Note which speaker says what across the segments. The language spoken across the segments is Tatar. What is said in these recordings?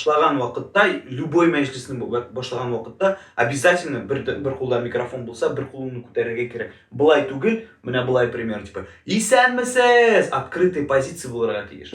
Speaker 1: башлаган вакытта любой мәҗлесне башлаган вакытта обязательно бер бер кулда микрофон булса бер кулыңны күтәрергә кирәк былай түгел менә былай пример типа исәнмесез открытый позиция булырга тиеш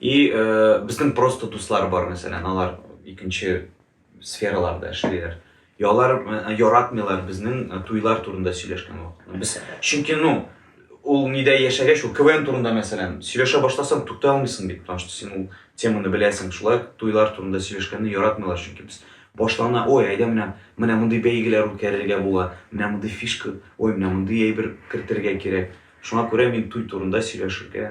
Speaker 1: И безнең просто дуслар бар, мәсәлән, алар икенче сфераларда эшлиләр. Ялар яратмыйлар безнең туйлар турында сөйләшкән вакытта. Без чөнки ну ул нидә яшәгәч, ул КВН турында мәсәлән, сөйләшә башласаң, туктый алмыйсың бит, потому что син ул теманы беләсең. Шулай туйлар турында сөйләшкәнне яратмыйлар, чөнки без башлана, ой, әйдә менә, менә мондый бәйгеләр үткәрергә була, менә мондый фишка, ой, менә мондый әйбер кертергә кирәк. Шуңа күрә мин туй турында сөйләшергә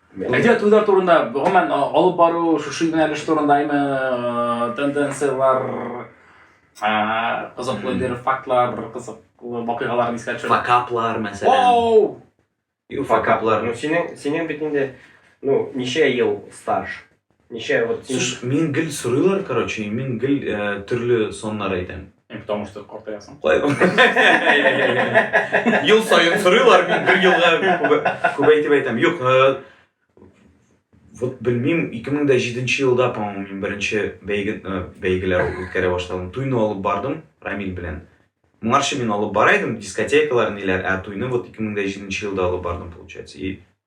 Speaker 2: Әдәбият уйлар турында, гомумән, алып бару, шушы юнәлеш турындаймы, тенденцияләр, кызыклы бер фактлар, кызыклы вакыйгалар искә төшерә. Факаплар, мәсәлән.
Speaker 1: Оу! Ю факаплар. Ну, синең, синең бит
Speaker 3: инде, ну, ничә ел стаж? Ничә вот син... Слушай, мин гел сорыйлар,
Speaker 1: короче, мин гел э, төрле соннар әйтәм. Э, потому что
Speaker 2: картаясың. Ел
Speaker 1: сайын сорыйлар, мин бер елга күбәйтеп әйтәм. Юк, э, вот белмим, 2007 елда, по-моему, мин беренче бәйге, э, бәйгеләр үткәрә башладым. Туйны алып бардым Рамил белән. Моңарчы мин алып бара идем, дискотекалар ниләр, ә туйны вот 2007 елда алып бардым, получается. И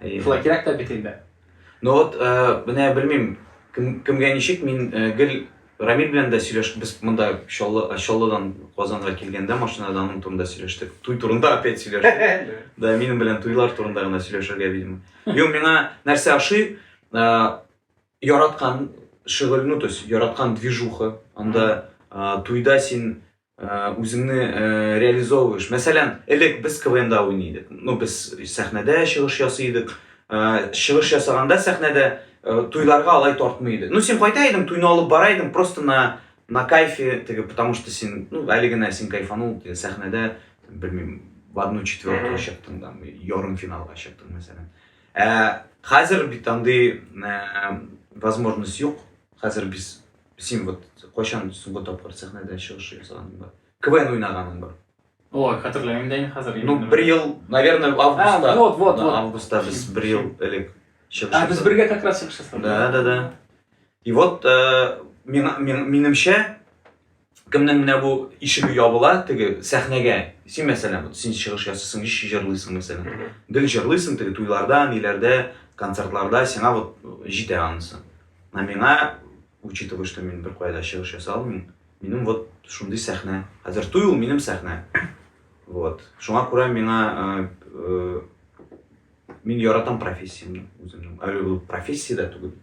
Speaker 2: Шулай кирәк тә бит инде. Ну вот,
Speaker 1: менә белмим, кем, кемгә ничек, мин гел Рамиль белән дә сөйләш, без монда Чаллы, Чаллыдан Казанга килгәндә машинада аның турында сөйләштек. Туй турында опять сөйләштек. Да, минем белән туйлар турында гына сөйләшергә видимо. Юк, миңа нәрсә ошый? Яраткан шөгыль, ну то есть яраткан движуха. Анда туйда син үзеңне реализовываешь. Мәсәлән, элек без КВНда уйный идек. Ну, без сәхнәдә чыгыш ясый идек. Чыгыш ясаганда сәхнәдә туйларга алай тартмый иде. Ну, син кайта идең, туйны алып бара идең, просто на на кайфе, теге, потому что син, ну, әле генә син кайфанул, сәхнәдә, белмим, в одну четвертую чыктың да, ярым финалга чыктың, мәсәлән. Ә хәзер бит андый возможность юк. Хәзер без Син вот кайчан соңгы тапкыр сәхнәдә чыгыш ясаганың бар? КВН уйнаганың бар? Ой, хәтерләмим дә
Speaker 2: инде хәзер. Ну, бер ел,
Speaker 1: наверное, августта. Вот, вот, вот. Августта
Speaker 2: без бер
Speaker 1: ел элек чыгыш. А, без бергә как раз чыгыш
Speaker 2: ясадык. Да, да, да.
Speaker 1: И вот э, минемчә кемнең менә бу ишеге ябыла теге сәхнәгә син мәсәлән вот син чыгыш ясыйсың еш җырлыйсың мәсәлән гел җырлыйсың теге туйларда ниләрдә концертларда сиңа вот җитә анысы Ә миңа, учитывая, что мин бер кайда чыгыш ясый алмыйм, минем вот шундый сәхнә. Хәзер туй ул минем сәхнә. Вот. Шуңа күрә миңа э, э, мин яратам профессиямне үземнең. Әле ул профессия дә түгел.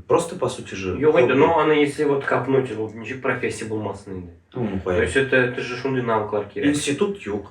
Speaker 1: Просто по сути же. Юк инде, но аны если
Speaker 3: вот капнуть, ул ничек профессия булмасын инде. Ну,
Speaker 1: ну, То
Speaker 3: есть это это же
Speaker 1: шундый
Speaker 3: навыклар кирәк.
Speaker 1: Институт
Speaker 3: юк.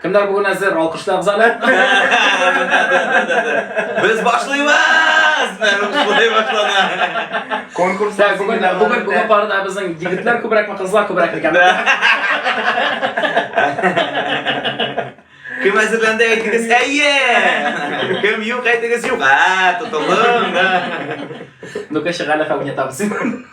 Speaker 2: Кемнәр бүген әзер? Алкышлагыз әле.
Speaker 1: Без башлыйбыз! Шулай башлана. Конкурс Так,
Speaker 3: бүген бүген бүген
Speaker 2: парада безнең егетләр күбрәкме, кызлар күбрәк икән?
Speaker 1: Кем әзерләнде әйтегез, әйе! Кем юк әйтегез, юк. А, тотылдың. Ну-ка,
Speaker 2: шагала фагнетабыз.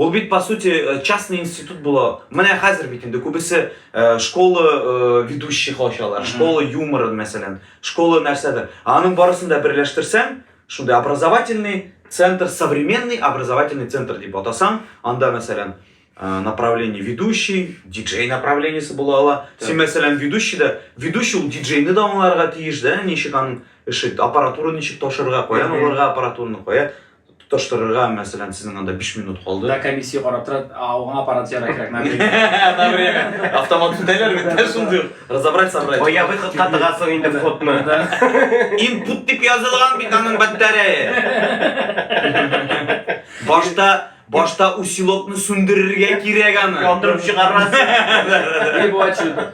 Speaker 1: Ул бит по сути э, частный институт була. Менә хәзер бит инде күбесе э, школа э, ведущий халчалар, школа юмора мәсәлән, школа нәрсәдер. Аның барысын да берләштерсәң, шундый образовательный центр, современный образовательный центр дип атасаң, анда мәсәлән э, направление ведущий, диджей направлениесе була ала. Син мәсәлән ведущий да, ведущий ул диджейны да аңларга тиеш, да, ничек аның эше, аппаратура ничек ташырга, каян алырга аппаратураны, кая Тоташтырырга, мәсәлән, сезнең анда 5 минут калды. Да, комиссия карап тора,
Speaker 2: ауга аппарат яра кирәк. Мәбрия.
Speaker 1: Автомат күтәләр бит, ә шундый. Разобрать, собрать. Ой, я бы хоть катыга
Speaker 3: соң инде фотны. Input
Speaker 1: дип язылган бит аның батарея. Башта Башта усилокны сүндерергә кирәк аны. Яндырып чыгарасың.
Speaker 3: Дип ачу.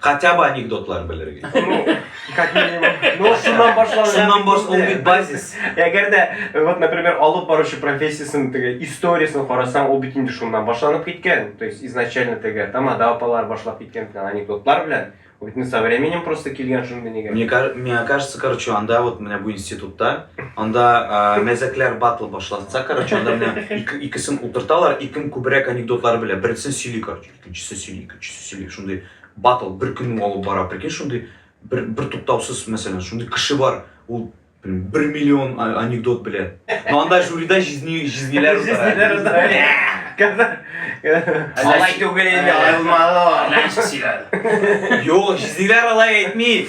Speaker 3: Хотя
Speaker 1: бы анекдотлар белергә. Ну, как
Speaker 3: минимум. Ну, шуннан башланып. Шуннан башланып бит
Speaker 1: базис. Әгәр дә,
Speaker 3: вот, например, алып баручы профессиясен, теге историясен карасаң, ул бит инде шуннан башланып киткән. То есть изначально теге тамада апалар башлап киткән флан анекдотлар белән. Ул бит со временем просто килгән шундый нигә. Мне, мне кажется,
Speaker 1: короче, анда вот менә бу институтта, анда мәзәкләр батл башлатса, короче, анда менә икесен утырталар, и кем күбрәк анекдотлар белә, берсен сөйли, короче. Икенчесе сөйли, икенчесе сөйли. Шундый батл бер көнне алып бара. Прикинь, шундый бер, бер туктаусыз, мәсәлән, шундый кеше бар, ул бер миллион анекдот белә. Но анда жюрида җизни, җизниләр утыра.
Speaker 3: Алай түгел инде, аерылмалы.
Speaker 2: Юк,
Speaker 1: җизниләр алай әйтми.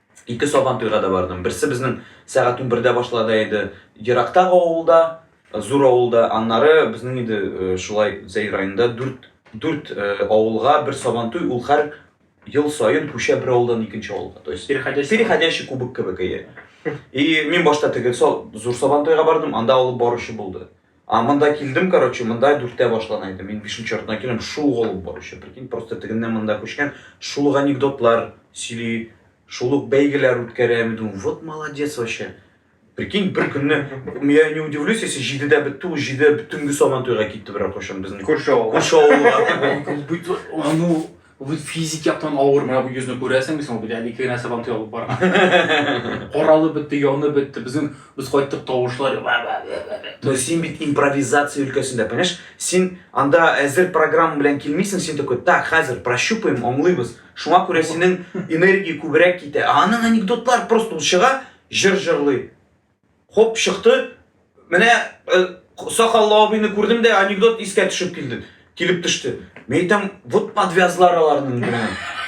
Speaker 1: Ике Сабантуйга да бардым. Берсе безнең сәгать унбердә башлада иде, ерактагы авылда, зур авылда. Аннары безнең иде шулай Зәй районында дүрт, дүрт авылга бер Сабантуй, ул хәр ел саен күчә бер авылдан икенче авылга. То есть Переходящий переходящий кубок кебек, әйе. И мин башта теге Зур Сабантуйга бардым, анда алып баручы булды. А монда килдем, короче, монда дүртә башлана иде. Мин бишенче артына килем, шул гол баручы. Прикинь, просто тегеннән монда күчкән, шул ук анекдотлар сөйли, шул ук бәйгеләр үткәрә. Мин думаю, вот молодец вообще. Прикинь, бер көнне, я не удивлюсь, если җидедә бетте, ул җиде төнге сабан туйга китте берәр кайчан безнең. Күрше авылга. Күрше авылга. Ану Бу
Speaker 2: физик яктан авыр, менә бу йөзне күрәсең бит, бит әле ике генә сабантуй алып барган. Каралып бетте, янып бетте, безнең без кайттык тавышлар. Но
Speaker 1: син бит импровизация өлкәсендә, понимаешь? Син анда әзер программа белән килмисең, син такой, так, хәзер прощупаем, аңлыйбыз. Шуңа күрә синең энергия күбрәк китә. Ә аның анекдотлар просто ул чыга, җыр җырлый. Хоп, чыкты. Менә э, сакаллы абыйны күрдем дә анекдот искә төшеп килде. Килеп төште. Мен әйтәм, вот подвязлар аларның генә.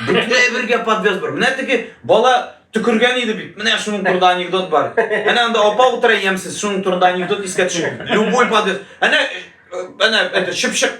Speaker 1: Бөтенләй бергә подвяз бар. Менә теге бала төкергән иде бит. Менә шуның турында анекдот бар. Әнә анда апа утыра ямсыз, шуның турында анекдот искә төшеп. Любой подвяз. Әнә э, әнә это чыпчык.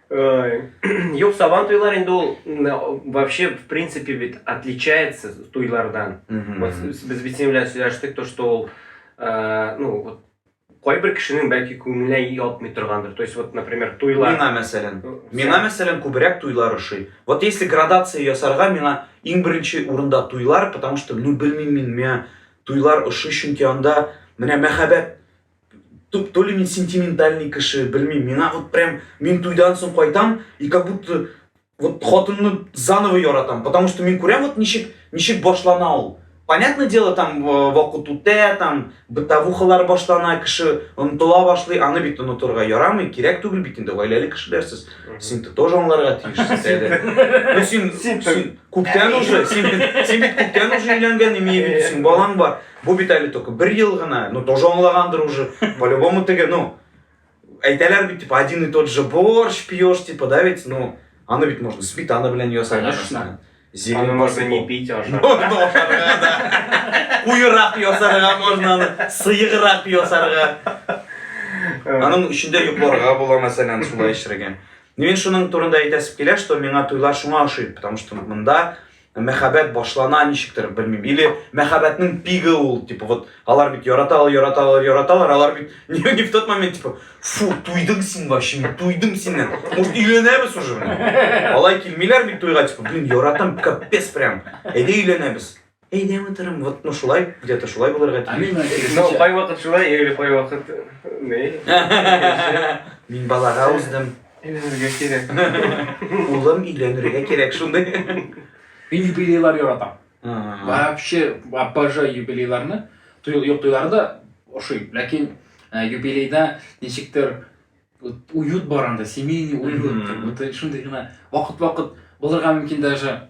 Speaker 3: Юк, сабан туйлар инде ул вообще в принципе бит отличается туйлардан. Вот без бит синең белән сөйләштек, то что ул э, ну вот кайбер кешенең бәлки күңеленә ятмый торгандыр. То есть вот, например, туйлар. Миңа мәсәлән. Миңа
Speaker 1: мәсәлән күбрәк туйлар ошый. Вот если градация ясарга, миңа иң беренче урында туйлар, потому что ну белмим мин, миңа туйлар ошый, чөнки анда менә мәхәббәт то, то ли мин сентиментальный кеше, белмим, миңа вот прям, мин туйдан соң кайтам, и как будто вот хатынны заново яратам, потому что мин күрәм вот ничек, ничек башлана ул. Понятное дело, там э, вакыт үтә, там бытовухалар башлана, кеше онытыла башлый, аны бит онытырга ярамый, кирәк түгел бит инде, гаиләле кешеләр сез. Син ты тоже аңларга тиешсез әле. Ну син, син күптән уже, син, син бит күптән уже өйләнгән, имею в виду, син балаң бар. Бу бит әле только бер ел гына, ну тоже аңлагандыр уже, по-любому теге, ну, әйтәләр бит, типа, один и тот же борщ пьешь, типа, да ведь, ну, аны бит можно сметана белән ясар. Конечно. Зелень
Speaker 3: можно не пить, а
Speaker 1: Куйрак ясарга можно аны, сыйграк ясарга. Аның эчендә йокларга була, мәсәлән, шулай эчрәгән. Мен шуның турында әйтәсем килә, что миңа туйлар шуңа ошый, потому что монда Мәхәббәт башлана ничектер, белмим. Или мәхәббәтнең пигы ул, типа вот алар бит яраталар, яраталар, яраталар, алар бит не, не в тот момент, типа, фу, туйдың син вообще, мин туйдым синнән. Может, өйләнәбез уже, блин. Алай килмиләр бит туйга, типа, блин, яратам, капец прям. Әйдә өйләнәбез. Әйдә, матурым, вот, ну шулай, где-то шулай булырга тиеш. А мин Исмал, кайвакыт шулай,
Speaker 3: или кайвакыт не.
Speaker 1: Мин балага уздым. Өйләнергә
Speaker 3: кирәк. Улым,
Speaker 1: өйләнергә кирәк шундый. Мин юбилейлар
Speaker 2: яратам. Вообще, обожаю юбилейларны. Юк туйлары да ошый. Ләкин э, юбилейда ничектер уют бар анда, семейный уют. Шундый гына вакыт-вакыт булырга мөмкин даже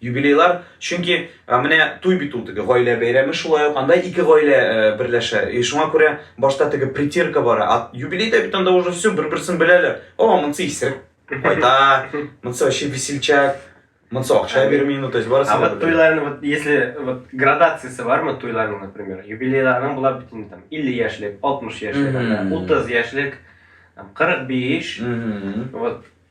Speaker 1: Юбилейлар, чөнки менә туй бит ул теге гаилә бәйрәме шулай ук, анда ике гаилә берләшә. И шуңа күрә башта теге притирка бара, а юбилейда бит анда уже все бер-берсен беләләр. О, монысы исерек. Кайта, монысы вообще весельчак. Монысы акча бирми, ну то есть барысы. А вот туйларның вот
Speaker 3: если вот градациясе бармы туйларның, например, юбилейларның була бит инде там 50 яшьлек, 60 яшьлек, 30 яшьлек, 45. Вот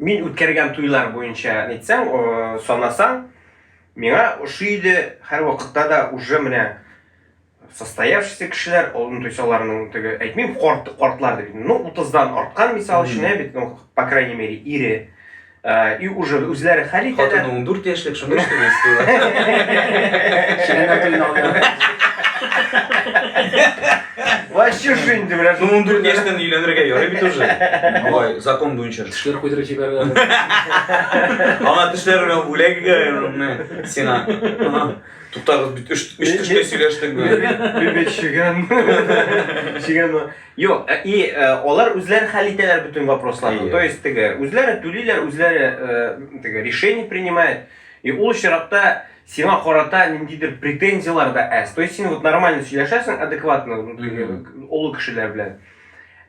Speaker 3: Мин үткәргән туйлар буенча әйтсәң, санасаң, миңа ошый иде һәрвакытта да уже менә состоявшийся кешеләр алдын туйсаларның теге әйтмим корт кортлар дип ну утыздан арткан мисал өчен ә бит ну по крайней мере ире э, и уже үзләре хәл итәләр хатыны он дүрт яшьлек
Speaker 1: шунда эш
Speaker 3: Вообще шо инде менә шул. Ну, ундүрт яшьтән
Speaker 1: өйләнергә ярый бит уже. Алай закон буенча. Тешләр куйдырып җибәргән. Аңа тешләр белән бүләк итә. Сиңа. Туктагыз бит өч өч төшкә сөйләштек бит. Бит
Speaker 3: чигән. Чигән. Юк, э, и э, алар үзләре хәл итәләр бөтен вопросларны. То есть теге үзләре түлиләр, үзләре э, теге решение принимает. И ул очракта Сиңа карата ниндидер претензияләр дә әз. То есть син вот нормально сөйләшәсең, адекватно, олы кешеләр белән.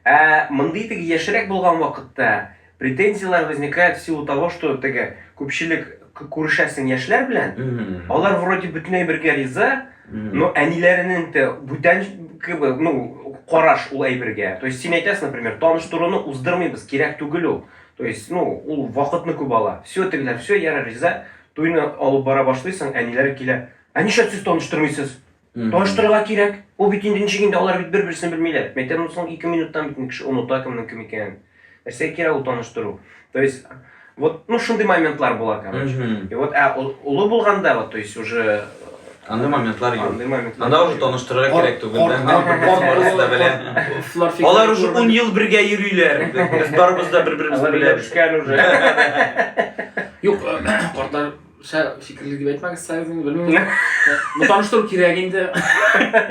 Speaker 3: Ә мондый теге яшьрәк булган вакытта претензияләр возникает в силу того, что теге күпчелек күрешәсең яшьләр белән, алар вроде бөтенләй бергә риза, но әниләренең дә бүтән кебек, ну, караш ул әйбергә. То есть син әйтәсең, например, таныштыруны уздырмыйбыз, кирәк түгел ул. То есть, ну, ул вакытны күп ала. Все тегеләр, все, ярар, риза. Туйны алып бара башлыйсың, әниләре килә. Ә нишләп сез таныштырмыйсыз? Таныштырырга кирәк. Ул бит инде ничек инде, алар бит бер-берсен белмиләр. Мәктәптән соң ике минуттан бит инде кеше оныта кемнең кем икәнен. Нәрсәгә кирәк ул таныштыру? То есть, вот, ну, шундый моментлар була, короче. И вот, ә олы булганда, вот, то есть, уже, Андый моментлар
Speaker 1: юк. Андый моментлар. Анда уже
Speaker 3: таныштырырга кирәк
Speaker 1: түгел. Кор- Мин кор- барысы кор- да белә. Кор- кор- Алар уже 10 ел бергә йөриләр. Без барыбыз да бер-беребезне Алар беләбез. бишкән уже.
Speaker 3: Юк,
Speaker 2: картлар шә фикерле дип әйтмәгез, сәгезен белмим. Бу таныштыру кирәк инде.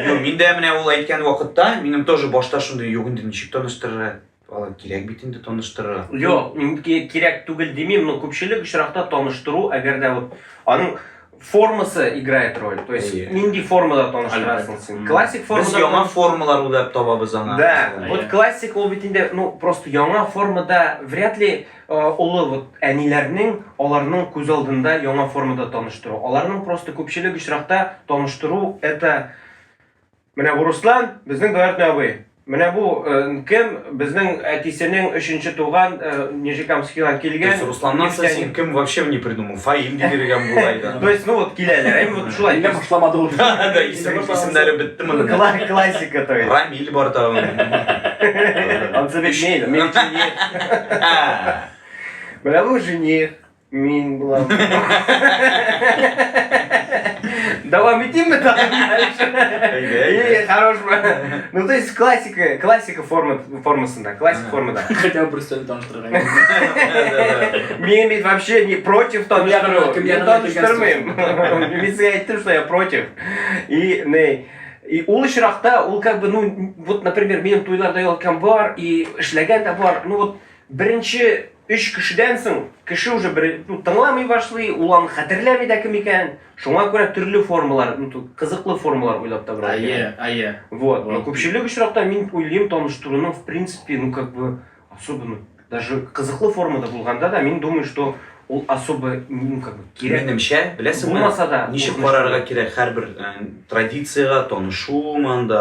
Speaker 2: Юк, миндә
Speaker 1: менә ул әйткән вакытта минем тоже башта шундый юк инде ничек таныштырырга. Алай кирәк бит инде таныштырырга. Юк,
Speaker 3: кирәк түгел димим, но күпчелек очракта таныштыру, әгәр дә вот аның формасы играет роль. То есть yeah. нинди формада таныштырасың син. Классик формада. Без яңа формалар уйлап
Speaker 1: табабыз аңа. Да. Yeah. Вот классик
Speaker 3: ул бит инде, ну, просто яңа формада вряд ли олы вот әниләрнең аларның күз алдында яңа формада таныштыру. Аларның просто күпчелек очракта таныштыру это Менә бу Руслан, безнең двоюродный абый. Менә бу э, кем? Безнең әтисенең өченче туган э, Нижнекамскидан килгән. Без Русланнан соң син кем
Speaker 1: вообще не придумал? Фаим дип йөргән булай да. То есть, ну вот киләләр,
Speaker 3: әйме вот шулай. Әллә башламады ул.
Speaker 2: Да, исем
Speaker 1: исемнәре бетте моның. Кла- Классика, то есть.
Speaker 3: Рамиль бар тагын.
Speaker 1: Он тебе мейль,
Speaker 3: мейль жених. А, Менә бу жених. Мин булам. Давам итимме тагы? Әйдә, Хорош. Ну, то есть классика, классика форма, формасында, классика формада. Хотя бы представь, там
Speaker 2: что
Speaker 3: Мен бит вообще не против там что Мен там штормым. Мен сізге айттым, что я против. И, не, И ул очракта ул как бы ну вот например минем туйларда ялкан бар и эшләгән дә бар ну вот беренче Өч кешедән соң кеше уже бер ну, тыңламый башлый, ул аны хәтерләми дә кем икәнен. Шуңа күрә төрле формалар, ну, кызыклы формалар уйлап табырга кирәк. Әйе, әйе. Вот.
Speaker 2: Но күпчелек
Speaker 3: очракта мин уйлыйм, таныштыруның в принципе, ну как бы особенно даже кызыклы формада булганда да мин думаю, что ул особо ну как бы кирәк. Минемчә, беләсеңме? Булмаса
Speaker 1: да. Ничек
Speaker 3: карарга кирәк
Speaker 1: һәрбер э, традициягә танышуым анда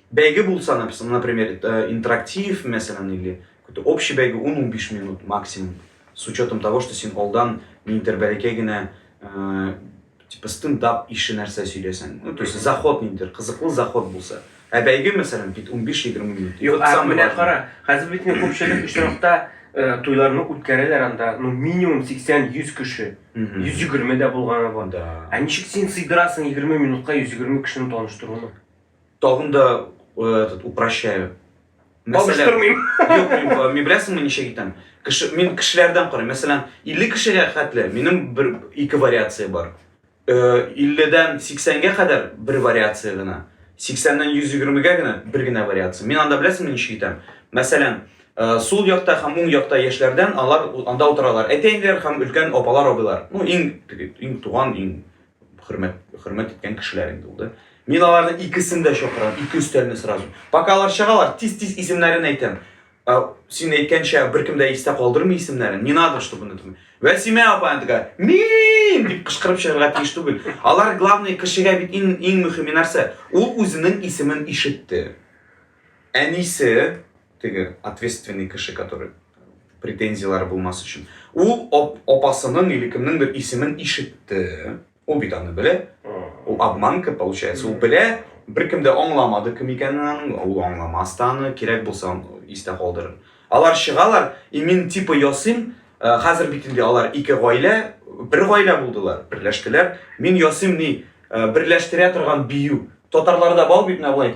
Speaker 1: Бәйге булса, например, интерактив, мәсәлән, или какой-то общий бәйге 10-15 минут максимум, с учетом того, что син алдан ниндидер бәләкәй генә э, типа стендап ише нәрсә сөйләсәң, ну, то есть заход ниндидер, кызыклы заход булса. Ә бәйге, мәсәлән, бит 15-20 минут. Юк, ә менә кара,
Speaker 3: хәзер бит ни күпчелек очракта э, туйларны үткәрәләр анда, ну, минимум 80-100 кеше. 120 дә булганы бар. Да. Ә ничек син сыйдырасың 20 минутка 120 кешене таныштыруны? Тагын да
Speaker 1: э, этот, упрощаю.
Speaker 3: Алыштырмыйм. Юк, э,
Speaker 1: мин беләсеңме ничек итәм? Кеше, мин кешеләрдән карыйм. Мәсәлән, 50 кешегә хәтле минем бер ике вариация бар. 50-дән э, 80-гә кадәр бер вариация гына. 80-дән 120-гә генә бер генә вариация. Мин анда беләсеңме ничек итәм? Мәсәлән, Э, сул якта һәм уң якта яшьләрдән алар анда утыралар. Әтәйләр һәм өлкән апалар абыйлар. Ну, иң иң туган, иң хөрмәт хөрмәт иткән кешеләр инде ул да. Мин аларны икесен дә чакырам, ике өстәлне сразу. Пока алар чыгалар, тиз-тиз исемнәрен әйтәм. Ә, син әйткәнчә, беркем дә истә калдырмый исемнәрен. Не надо, чтобы это. Вәсимә апа аны тага, мин дип кычкырып чыгарга тиеш түгел. Алар главный кешегә бит иң иң мөһиме нәрсә? Ул үзенең исемен ишетте. Әнисе, теге ответственный кеше, который претензияләре булмас өчен. Ул апасының или кемнеңдер исемен ишетте. Ул бит аны белә. Ул обманка получается. Ул белә, беркем дә аңламады кем икәнен аның. Ул аңламас та аны, кирәк булса истә калдырыр. Алар чыгалар, и мин типа ясыйм, э, хәзер бит инде алар ике гаилә, бер гаилә булдылар, берләштеләр. Мин ясыйм ни, э, берләштерә торган бию. Татарларда бал бит менә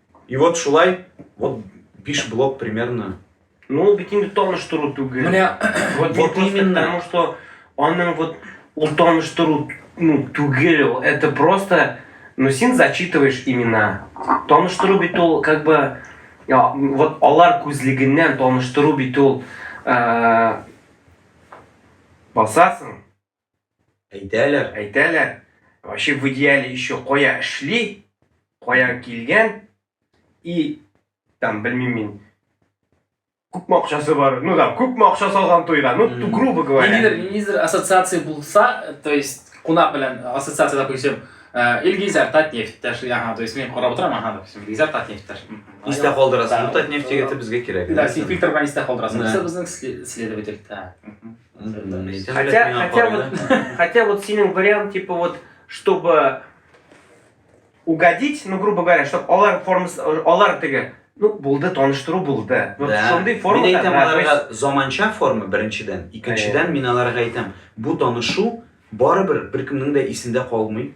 Speaker 1: И вот шулай, вот биш блок примерно. Ну, ул бит инде
Speaker 3: таныштыру түгел. Менә вот, вот
Speaker 2: именно.
Speaker 3: Потому
Speaker 1: что
Speaker 3: аның вот ул таныштыру ну, түгел, это просто, ну, син зачитываешь имена. Таныштыру бит ул, как бы, я, вот алар күзлегеннән таныштыру бит ул, ә, э, басасың. Әйтәләр. Әйтәләр. Вообще в идеале еще кая шли, кая килгән и там белмим мин күпме акчасы бар, ну там күпме акча салган туйга, ну mm. грубо говоря. Ниндидер, ниндидер ассоциация
Speaker 2: булса, то есть кунак белән ассоциация, допустим, э, Илгизәр Татнефть, ага, то есть мин карап утырам, ага, допустим, Илгизәр Татнефть. Истә калдырасың,
Speaker 1: ну Татнефть егете безгә кирәк. Да, син фильтр белән истә
Speaker 2: калдырасың. Безнең
Speaker 1: следователь.
Speaker 2: Хотя, хотя, вот,
Speaker 3: хотя вот сининг вариант, типа вот, чтобы угодить, ну, грубо говоря, чтобы олар формасы, олар теге, ну, булды, таныштыру булды. Вот да. шундый форма. Мин әйтәм, аларга
Speaker 1: заманча форма, беренчедән. Икенчедән, мин аларга әйтәм, бу танышу барыбер беркемнең дә исендә калмый.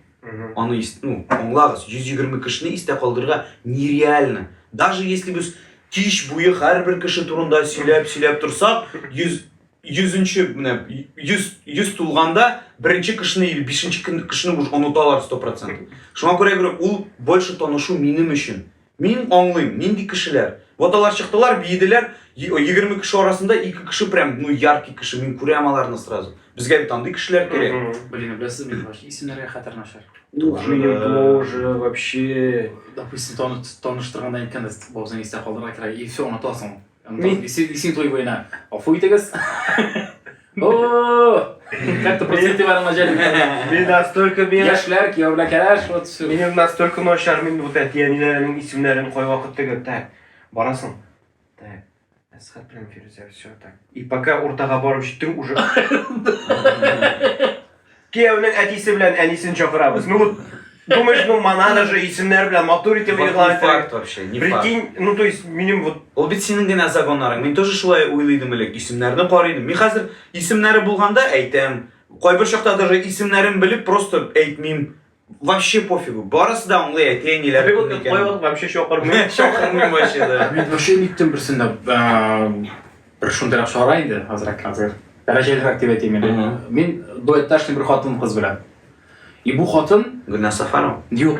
Speaker 1: Аны ис, ну, аңлагыз, 120 кешене истә калдырырга нереально. Даже если без кич буе һәрбер кеше турында сөйләп, сөйләп торсак, 100 100-нче менә 100 100 тулганда беренче кешене или бишенче кешене уже оныталар 100%. Шуңа күрә гөрә ул больше танышу минем өчен. Мин аңлыйм, нинди кешеләр. Вот алар чыктылар, биеделәр, егерме кеше арасында ике кеше прям, ну, яркий кеше, мин күрәм аларны сразу. Безгә бит андый кешеләр кирәк. Блин, беләсез мин вообще
Speaker 2: исемнәргә хәтер начар. Ух, минем тоже
Speaker 3: вообще. Допустим,
Speaker 2: таныштырганда әйткәндә, бабзыйны истә калдырырга кирәк, и все, онытасың. Мин исин исин туй буена. Афу итегез. О! Как то просто итеп барган җәлим. Мин настолько
Speaker 3: мин Яшьләр кияүләр
Speaker 2: кәләш вот все. Минем настолько начар,
Speaker 3: мин вот әти әниләренең исемнәрен кайвакыт теге так. Барасың. Так. Әсхат белән Фирүзә все так. И пока уртага барып җиттең уже. Кияүнең әтисе белән әнисен чакырабыз. Ну вот, думаешь, ну монада же исемнәр белән матур итеп Вот игълан не итәргә. факт вообще, не
Speaker 1: факт. Прикинь, ну то есть минем
Speaker 3: вот Ул бит синең генә
Speaker 1: загоннарың. Мин тоже шулай уйлый идем элек, исемнәрне карый идем. Мин хәзер исемнәре булганда әйтәм. Кайбер чакта даже исемнәрен белеп просто әйтмим. Вообще пофигу. Барысы да аңлый әти әниләр. Бик ул плейбок вообще
Speaker 3: чакырмый. Чакырмый вообще
Speaker 1: да. Мин вообще никтем берсендә
Speaker 2: бер шундыйрак чара инде, азрак хәзер. Дәрәҗәлерәк дип әйтим инде. Мин дуэтташный бер хатын кыз белән. И бу хатын Гүнә Сафарова.
Speaker 1: Юк.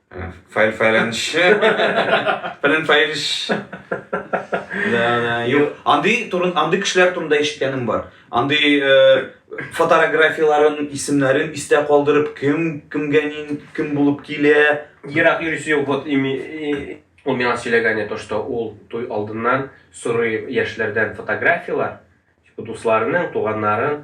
Speaker 1: Файл файланшы. Фәлән файлш. Да, да. Юк. Андый турын, андый кешеләр турында ишеткәнем бар. Андый э, фотографияләрен, исемнәрен истә калдырып, кем кемгә нин, кем булып килә. Ерак йөрисе юк.
Speaker 3: Вот ими и- ул миңа сөйләгәне то, что ул туй алдыннан сорый яшьләрдән фотографияләр, типа дусларының, туганнарын,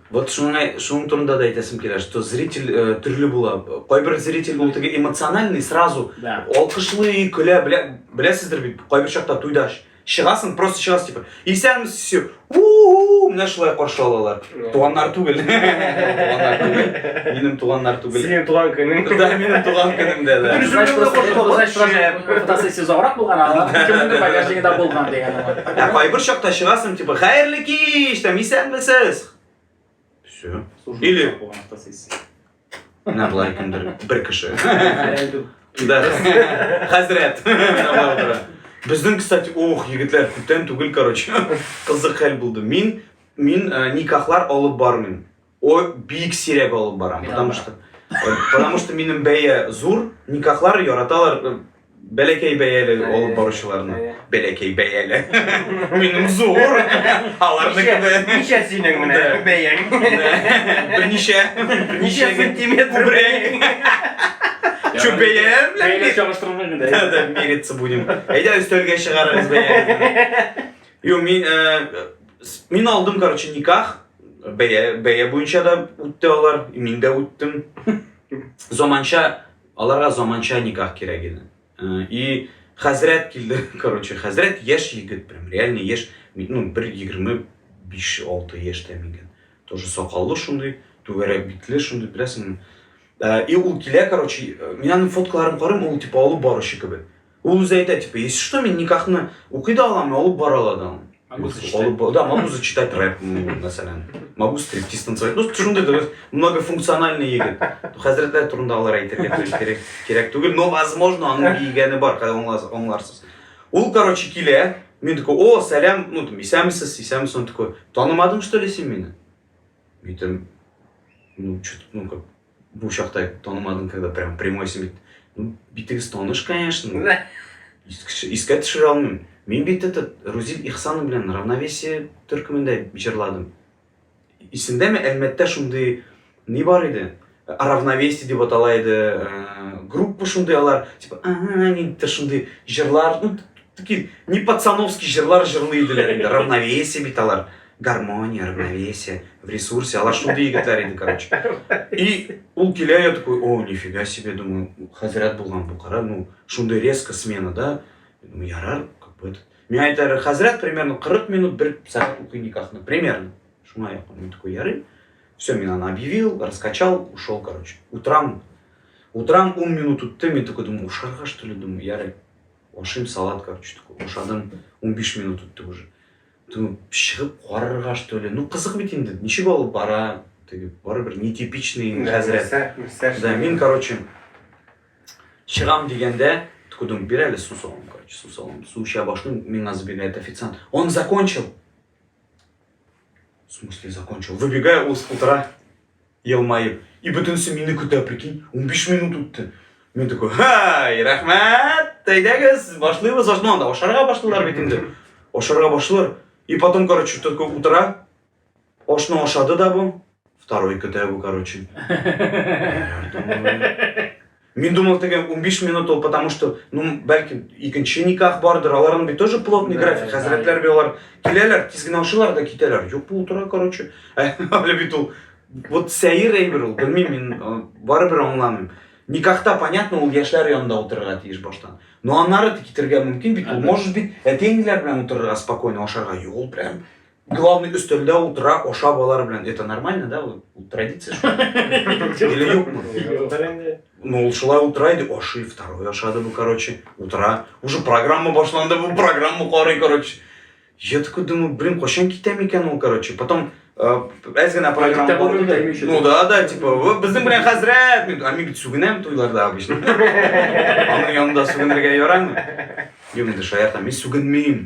Speaker 2: Вот шуны,
Speaker 1: шуның турында да әйтәсем килә, что зритель э, төрле була. Кайбер зритель ул теге эмоциональный, сразу да. алкышлый, көлә, белә, беләсездер бит, кайбер чакта туйда чыгасың, просто чыгасың, типа, исәнмесез, все, у-у-у, менә шулай каршы алалар. Туганнар түгел. Туганнар түгел. Минем туганнар түгел. Синең туган көнең. Да,
Speaker 3: минем туган көнем
Speaker 1: дә, да. Значит, просто фотосессия
Speaker 2: озаграк булган, ана кемнеңдер багажнигында булган дигән. Ә кайбер чакта
Speaker 1: чыгасың, Типа, хәерле кич, там, исәнмесез. Все. Или... Менә болай кемдер, бер кеше. Да, хәзрәт. Безнең, кстати, ох, егетләр, күптән түгел, короче, кызык хәл булды. Мин, мин э, никахлар алып бармыйм. О, бик сирәк алып бара. Потому что, потому что минем бәя зур, никахлар яраталар э, бәләкәй бәяле алып баручыларны. Бәләкәй бәяле. Минем зур. Аларныкы да. Ничә синең менә Да.
Speaker 3: бәяң? Берничә.
Speaker 1: Ничә сантиметр? Күбрәк. Чүп бәяләр белән Бәйләп бит. чагыштырырга
Speaker 2: гына. Да, да, мериться будем.
Speaker 1: Әйдә өстәлгә чыгарыгыз бәяне. Юк, мин, э, с- мин алдым, короче, никах. Бәя, бәя буенча да үтте алар, мин дә үттем. Заманча, аларга заманча никах кирәк иде. Э, и хәзрәт килде, короче, хәзрәт яшь егет, прям реально яшь, ну, бер егерме биш алты яшьтә мигән. Тоже сакаллы шундый, түгәрәк битле шундый, беләсеңме? Э, и ул килә, короче, э, мин аның фоткаларын карыйм, ул типа алып баручы кебек. Ул үзе әйтә, типа, если что, мин никахны укый да алам, алып бара ала да алам. Могу зачитать. Да, могу зачитать рэп, мәсәлән. Могу стриптиз танцевать. Ну, шундый дөрес, многофункциональный егет. Хәзрәтләр турында алар әйтергә кирәк, кирәк түгел, но возможно аның дигәне бар, хәзер аңларсыз. Ул, короче, килә, мин такой, о, сәлам, ну, там, исәмсез, исәмсез, он такой, танымадың, что ли, син мине? Мин там, ну, что-то, ну, как, Бу чакта танымадым, когда прям прямой син битегез таныш, конечно. Искә төшерә алмыйм. Мин бит этот Рузил Ихсанов белән равновесие төркемендә җырладым. Исендәме Әлмәттә шундый ни бар иде? Равновесие дип атала иде. Э, группа шундый алар, типа, нидер шундый җырлар, ну, такие не пацановский җырлар җырлый иделәр инде. Равновесие бит алар. гармония равновесие в ресурсе алар шундый егетләр иде короче и ул килә я такой о нифига себе думаю хәзрәт булган бу кара ну шундый резко смена да думаю ярар как бы миңа әйтәләр хәзрәт примерно 40 минут бер сәгать укый никахны примерно шуңа якын мин такой ярый все мин аны объявил раскачал ушел короче утрам утрам 10 минут үтте мин такой думаю ушарга что ли думаю ярый ашыйм салат короче такой ашадым 15 минут үтте уже Думаю, чыгып карарга что ли, ну кызык бит инде, ничек алып бара, теге барыбер нетипичный хәзрәт. Да, мин короче чыгам дигәндә, такой думаю, бир әле су салам, короче, су салам. Су эчә башлыйм, миңа забегает официант. Он закончил. В смысле закончил? Выбегаю, ул утыра. елмаеп. И бөтенесе мине көтә, прикинь, унбиш минут үтте. Мин такой, һай, рәхмәт, әйдәгез, башлыйбыз, башлыйбыз. Анда ашарга башлыйлар бит инде. Ашарга башлыйлар. И потом, короче, такой утыра. Ашны ашады да бу. Второй көтә бу, короче. Мин думал теге 15 минут ул, потому что, ну, бәлки икенче никах бардыр, аларның бит тоже плотный график, хәзрәтләр бит алар киләләр, тиз генә ашыйлар да китәләр. Юк, бу утыра, короче. Әле бит ул вот сәер әйбер ул, белмим мин, э, барыбер аңламыйм. Никахта понятно, ул яшьләр янында утырырга тиеш баштан. Но аннары китергә мөмкин бит, ул может бит әти-әниләр белән утырырга спокойно ашарга. Юк, ул прям Главный өстәлдә утыра, ашап алар белән. Это нормально, да? Ул традиция. Или юкмы? Ну, ул шулай утыра иде, ашый, второй ашады бу, короче, утыра. Уже программа башланды, бу программа карый, короче. Я такой думаю, блин, кошен китем икән ул, короче. Потом э, әз генә программа барды да. Ну
Speaker 2: да,
Speaker 1: да, типа, безнең белән хәзрәт, мин, а мин бит сүгенәм туйларда обычно. Аның янында сүгенергә ярамый. Юк, инде шаяртам, мин сүгенмим.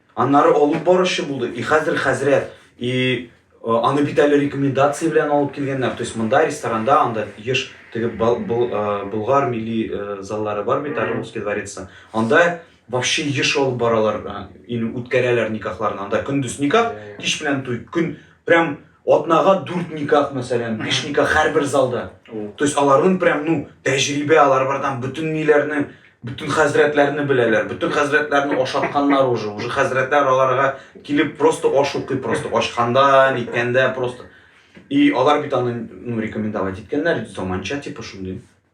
Speaker 1: Аннары алып баручы булды. И хәзер хәзрәт, и аны бит әле рекомендация белән алып килгәннәр. То есть монда ресторанда анда еш теге Болгар милли заллары бар бит, Орловский дворец. Анда вообще еш алып баралар, ин үткәрәләр никахларны. Анда көндез никах, кич белән туй. Көн прям атнага дүрт никах мәсәлән биш никах һәрбер залда то есть аларның прям ну тәҗрибә алар бар там бөтен ниләрне бөтен хәзрәтләрне беләләр бөтен хәзрәтләрне ашатканнар уже уже хәзрәтләр аларга килеп просто аш укый просто ачканда ниткәндә просто и алар бит аны ну рекомендовать иткәннәр заманча типа шундый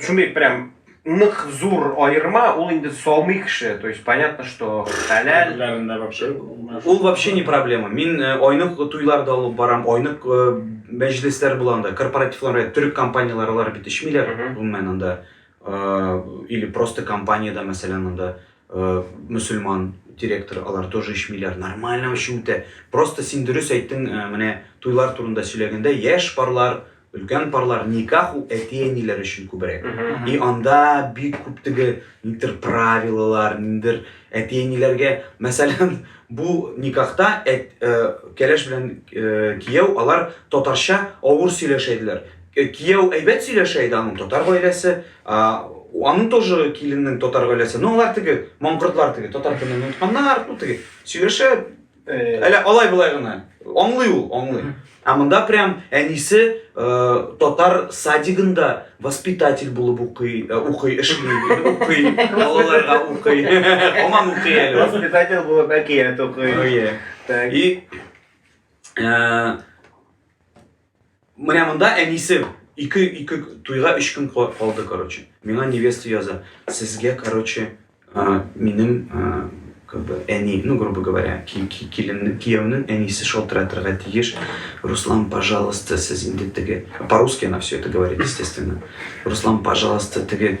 Speaker 3: Шундый прям нык зур аерма, ул инде салмый кеше, то есть понятно, что хәләл. Хәләлендә вообще.
Speaker 1: Ул вообще не проблема. Мин э, айнык туйларда алып барам, айнык э, мәҗлесләр булганда, корпоративларда төрек компанияләре алар бит эчмиләр, гомумән анда э, или просто компаниядә, мәсәлән, анда мусульман директор, алар тоже эчмиләр, нормально вообще үтә. Просто син дөрес әйттең, менә туйлар турында сөйләгәндә, яшь парлар Өлкән парлар никах ул әти-әниләр өчен күбрәк. И анда бик күп теге нидер правилалар, ниндер әти-әниләргә, мәсәлән, бу никахта әт, э, кәләш белән э, кияү алар татарча авыр сөйләшә иделәр. Э, кияү әйбәт сөйләшә иде аның татар гаиләсе, а, аның тоже киленнең татар гаиләсе. Ну, алар теге маңкортлар теге татар телен онытканнар, ну теге сөйләшә Э. Әле алай болай гына. Аңлый ул, аңлый. Ә монда прям әнисе э, татар садигында воспитатель булып укый, э, укый, эшли, укый, балаларга укый. Һаман укый әле. Воспитатель булып әкият
Speaker 3: укый.
Speaker 1: Oh, так. И э, Менә монда әнисе ике ике туйга өч көн калды, короче. Миңа невеста яза. Сезгә, короче, минем как бы әни, ну, грубо говоря, киленнең, кияүнең әнисе шалтыратырга тиеш. Руслан, пожалуйста, сез инде теге... По-русски она все это говорит, естественно. Руслан, пожалуйста, теге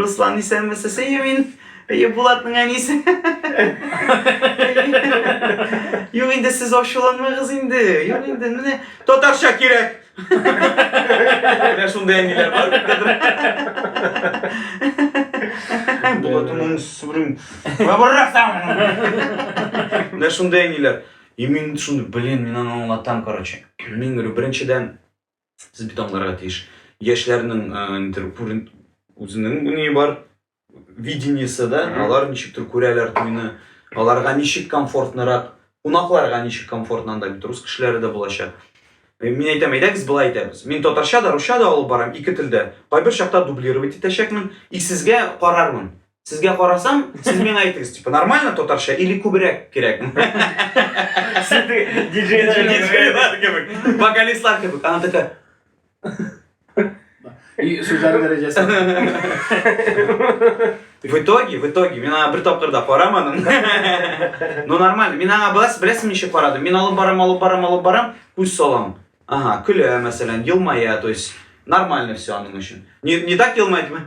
Speaker 1: Руслан исәнме сесе Юмин? Әйе, Булатның әнисе. Юк инде сез ачуланмагыз инде. Юк инде менә татарча кирәк. Менә шундый әниләр бар бит. Булатның сүрем. Менә барракта. Менә шундый әниләр. И мин шуны, блин, мин аны аңлатам, короче. Мин беренчедән Сез бит аңларга тиеш. Яшьләрнең нидер күрен үзенең ни бар видениесе да, алар ничектер күрәләр туйны, аларга ничек комфортнырак, кунакларга ничек комфортно анда бит рус кешеләре дә булачак. Мин әйтәм, әйдәгез болай итәбез. Мин татарча да, русча да алып барам, ике телдә. Кайбер чакта дублировать итәчәкмен, и сезгә карармын. Сезгә карасам, сез миңа әйтегез, типа, нормально татарча или күбрәк кирәк? Диджейлар кебек, вокалистлар кебек. Она такая...
Speaker 2: И сүзләр дәрәҗәсе.
Speaker 1: В итоге, в итоге, мин аңа бер тапкыр да карамадым. Ну нормально, мин аңа беләсез, беләсез ничек карадым? Мин алып барам, алып барам, алып барам, күз салам. Ага, көлә, мәсәлән, елмая, то есть нормально все аның өчен. Не, не так елмая, типа.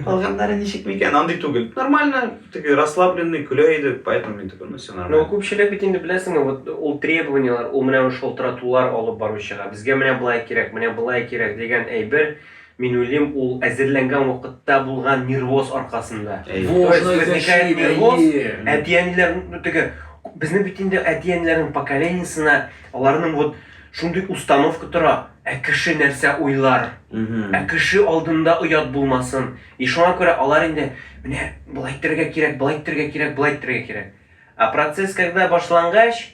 Speaker 1: Калганнары ничек микән? Андый түгел. Нормально, теге расслабленный, көлә иде, поэтому мин такой, ну все нормально. Ну, күпчелек бит инде
Speaker 3: беләсеңме, вот ул требованиялар, ул менә шалтыратулар алып баручыга, безгә менә былай кирәк, менә былай кирәк дигән әйбер Мин уйлыйм, ул әзерләнгән вакытта булган нервоз аркасында. Во, То есть, шуны возникает әйтәчи идем, нервоз, әйе. әти-әниләр ну, теге, безнең бит инде әти-әниләрнең поколениесына аларның вот шундый установка тора, ә кеше нәрсә уйлар, Мгм. ә кеше алдында оят булмасын. И шуңа күрә алар инде, менә болай итәргә кирәк, болай итәргә кирәк, болай итәргә кирәк. А процесс когда башлангач,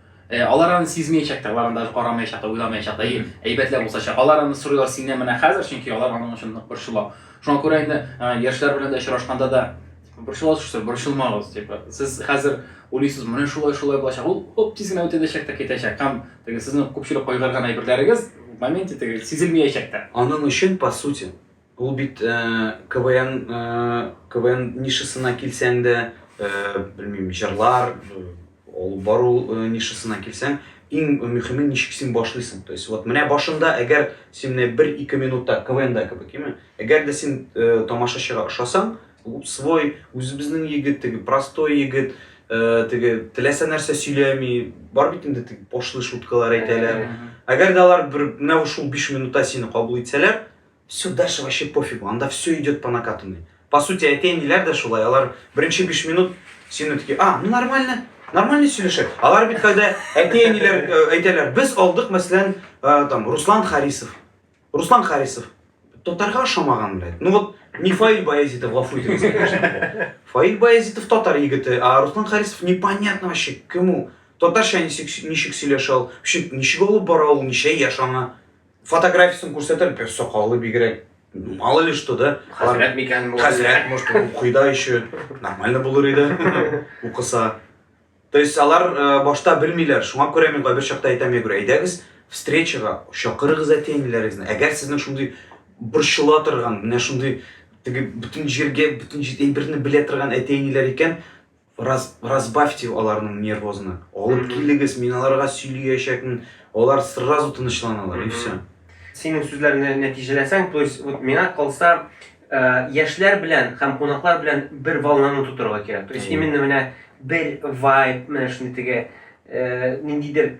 Speaker 2: Э, алар аны сизмәячәк тә, алар аны даже карамаячак та, уйламаячак та, әйе, әйбәтләп усачак. Алар аны сорыйлар синнән менә хәзер, чөнки алар аның өчен нык борчыла. Шуңа күрә инде э, яшьләр белән дә очрашканда да типа, борчыласыз шул, борчылмагыз, типа, сез хәзер уйлыйсыз, менә шулай, шулай булачак. Ул оп тиз генә үтәчәк тә китәчәк. Һәм теге сезнең күпчелек кайгырган әйберләрегез в моменте теге сизелмәячәк тә. Аның өчен, по сути,
Speaker 1: Ул бит КВН КВН нишасына килсәң дә, белмим, җырлар алып бару нишасына килсәң, иң мөхиме ничек син башлыйсың. То есть вот менә башында әгәр син менә 1-2 минутта КВНда кебек, яме? Әгәр дә син тамашачыга ошасаң, свой, үзебезнең егет, теге простой егет, теге теләсә нәрсә сөйләми, бар бит инде теге пошлый шуткалар әйтәләр. Әгәр дә алар бер менә шул 5 минутта сине кабул итсәләр, Сюдаши вообще пофигу, анда все идет по накатанной. По сути әти-әниләр дә шулай, алар беренче биш минут сине такие, а, ну нормально, нормально сөйләшә. Алар бит кайда әти-әниләр э, әйтәләр, без алдык, мәсәлән, э, там Руслан Харисов. Руслан Харисов татарга ошамаган, блядь. Ну вот не Фаиль Баязитов, гафу итегез, конечно. Фаиль Баязитов татар егете, а Руслан Харисов непонятно вообще кему. Татарча ничек сөйләшә ул, ничек алып бара ул, ничә яшь аңа. Фотографиясен күрсәтер, бер сакалы бигрәк, мало ли что, да? Хәзрәт микән бу?
Speaker 3: Хәзрәт, может, укый да
Speaker 1: еще, нормально булыр иде, укыса. То есть алар э, башта белмиләр, шуңа күрә мин кайбер чакта әйтәм, я говорю, әйдәгез встречага, чакырыгыз әти-әниләрегезне. Әгәр сезнең шундый борчыла торган, менә шундый теге бөтен җиргә, бөтен әйберне белә торган әти-әниләр икән, Раз, разбавьте аларның нервозны. Алып килегез, мин аларга сөйлиячәкмен. Алар сразу тынычланалар и все. Синең сүзләрне
Speaker 3: нәтиҗәләсәң, то есть вот миңа калса, яшьләр белән һәм кунаклар белән бер волнаны тутырырга кирәк. То есть именно менә бер вайб, менә шундый теге ниндидер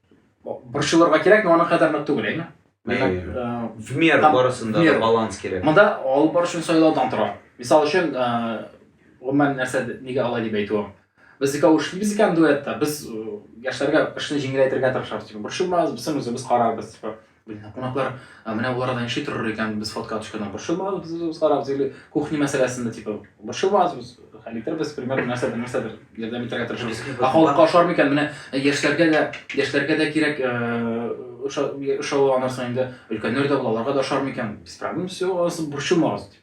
Speaker 2: борчылырга кирәк, но аның кадәр нык түгел, әйме?
Speaker 1: В меру барысында да баланс кирәк. Монда алып бару өчен
Speaker 2: сайлаудан тора. Мисал өчен, гомумән нәрсә нигә алай дип әйтүем. Без икәү эшлибез икән дуэтта, без яшьләргә эшне җиңеләйтергә тырышабыз, типа, борчылмагыз, бисен үзебез карарбыз, типа. Блин, кунаклар, менә ул арада ничек торыр икән, без фотка төшкәндә борчылмагыз, без үзебез карабыз, или кухня мәсьәләсендә, типа, борчылмагыз, без хәл итербез, примерно нәрсәдер, нәрсәдер ярдәм итәргә тырышабыз. Ә халыкка ошар микән? Менә яшьләргә дә, яшьләргә дә кирәк, ошау анарсың инде, өлкәннәр дә була, аларга да ошар микән? Без проблем, все, анысы борчылмагыз, дип.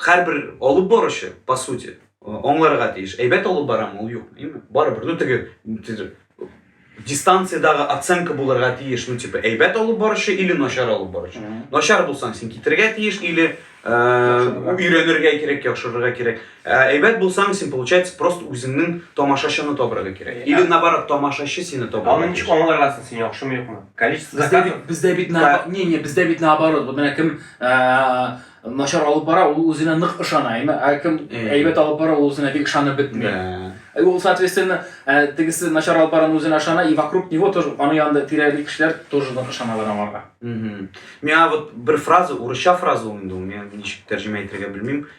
Speaker 1: һәрбер алып баручы, по сути, аңларга тиеш. Әйбәт алып барам, ул юк, әйме? Барыбер, ну теге дистанциядагы оценка булырга тиеш, ну типа әйбәт алып баручы или начар алып баручы. Начар булсаң, син китергә тиеш или э, өйрәнергә кирәк, яхшырырга кирәк. Ә әйбәт булсаң, син получается просто үзеңнең тамашачыны табырга кирәк. Или наоборот, тамашачы сине табырга. Аны ничек аңларгансың син
Speaker 3: яхшымы юкмы? Количество заказов. Бездә бит не,
Speaker 2: не, бездә бит наоборот. Вот менә кем начар алып бара, ул үзенә нык ышана. Ә кем әйбәт алып бара, ул үзенә бик ышанып бетми. Ул соответственно, тегесе начар алып баран үзенә ышана, и вокруг него тоже, аны янында тирәли кешеләр тоже нык ышаналар аңарга. Миңа
Speaker 1: вот бер фраза, урысча фраза ул инде, мин ничек тәрҗемә итәргә белмим.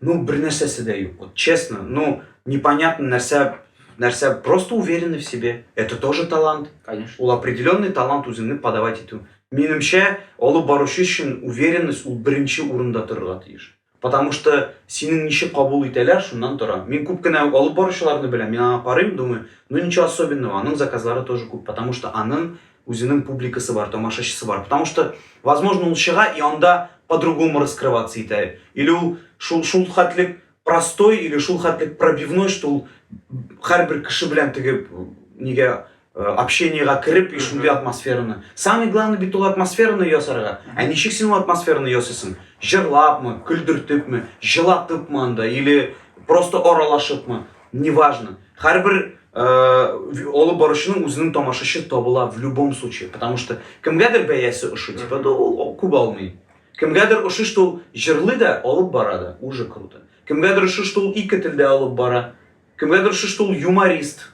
Speaker 1: Ну бернәрсәсе дә юк, вот честно, ну непонятно нәрсә нәрсә просто уверены в себе это тоже талант конечно ул определенный
Speaker 2: талант
Speaker 1: үзеңне подавать итү минемчә алып баручы өчен уверенность ул беренче урында торырга тиеш потому что синең ничек кабул итәләр шуннан тора мин күп кенә алып баручыларны беләм мин аңа карыйм думаю ну ничего особенного аның заказлары тоже күп потому что аның Үзенең публикасы бар, тамашачысы бар. Потому что, возможно, ул чыга и анда по-другому раскрываться итә. Или ул шул, шул хәтлек простой или шул хәтлек пробивной, что ул һәрбер кеше белән теге нигә Э, общениега кереп и шундый атмосфераны самый главный бит ул атмосфераны ясарга ә ничек син ул атмосфераны ясыйсың җырлапмы көлдертепме жылатыпмы анда или просто аралашыпмы неважно һәрбір ә, алып баручының үзенең тамашачы табыла в любом случае потому что кемгәдер бәясе ошый типа да ул күп алмый кемгәдер ошый что ул җырлый да алып бара да уже круто кемгәдер ошый что ул ике телдә алып бара кемгәдер ошый что ул юморист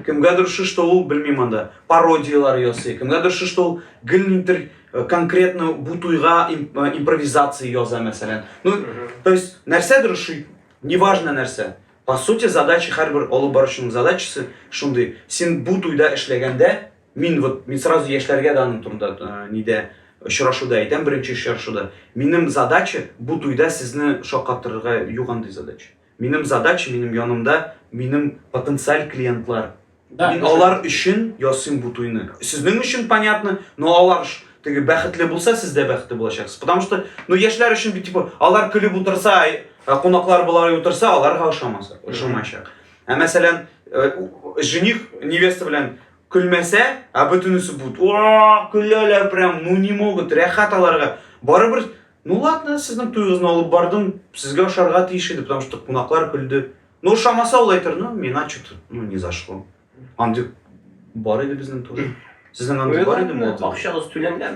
Speaker 1: кемгәдер ошый что ул белмим анда пародиялар ясый кемгәдер ошый что ул гелнитер Э, конкретно бу туйга э, импровизация яза мәсәлән ну то есть нәрсәдер ши неважно нәрсә По сути задача һәрбер алып баручының задачасы шундый, син бу туйда эшләгәндә, мин вот мин сразу яшьләргә дә аның турында нидә очрашуда әйтәм, беренче очрашуда. Минем задача бу туйда сезне шаккатырырга юк андый задача. Минем задача, минем янымда минем потенциаль клиентлар. Да, Мин да. алар өчен ясыйм бу туйны. Сезнең өчен понятно, но алар ш- теге бәхетле булса, сез дә бәхетле булачаксыз. Потому что, ну яшьләр өчен бит типа алар көлеп утырса, ай, ә кунаклар болай утырса, аларга ошамаса, ошамаячак. Ә мәсәлән, э, у- жених невеста белән көлмәсә, а бөтенесе будет, о, көләләр прям, ну не могут, рәхәт аларга. Барыбер, ну ладно, сезнең туегызны алып бардым, сезгә ошарга тиеш иде, потому что кунаклар көлде. Ну, шамасы ул әйтер, ну, миңа что-то, ну, не зашло. Андюк бар иде безнең туры. Сезнең андюк ну, бар иде мо? Акчагыз
Speaker 3: түләнгән.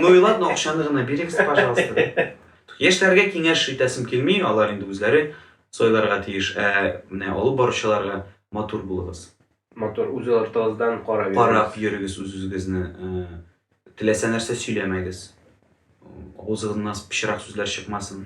Speaker 1: Ну и ладно, акчаны гына бирегез, пожалуйста. Яшьләргә киңәш итәсем килми, алар инде үзләре сойларга тиеш. Ә менә алып баручыларга матур булыгыз. Матур үз
Speaker 3: артыгыздан карап йөрегез. Карап йөрегез
Speaker 1: үз-үзегезне. Э, теләсә нәрсә сөйләмәгез. Авызыгыздан пычрак сүзләр чыкмасын.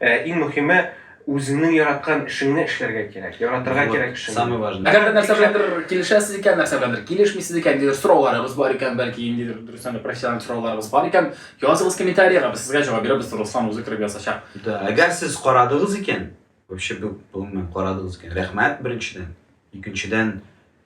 Speaker 3: Ә иң мөхиме, үзеңнең яраткан эшеңне эшләргә кирәк, яратырга Вот, кирәк эшеңне. самый важный. Әгәр дә нәрсә
Speaker 1: беләндер
Speaker 2: килешәсез икән, нәрсә беләндер килешмисез икән, ниндидер сорауларыгыз бар икән, бәлки ниндидер дөрестән дә профессиональ сорауларыгыз бар икән, языгыз комментариега, без сезгә җавап бирербез, Руслан үзе кереп язачак. Да, әгәр сез
Speaker 1: карадыгыз икән, вообще бу, гомумән, карадыгыз икән, рәхмәт, беренчедән. Икенчедән,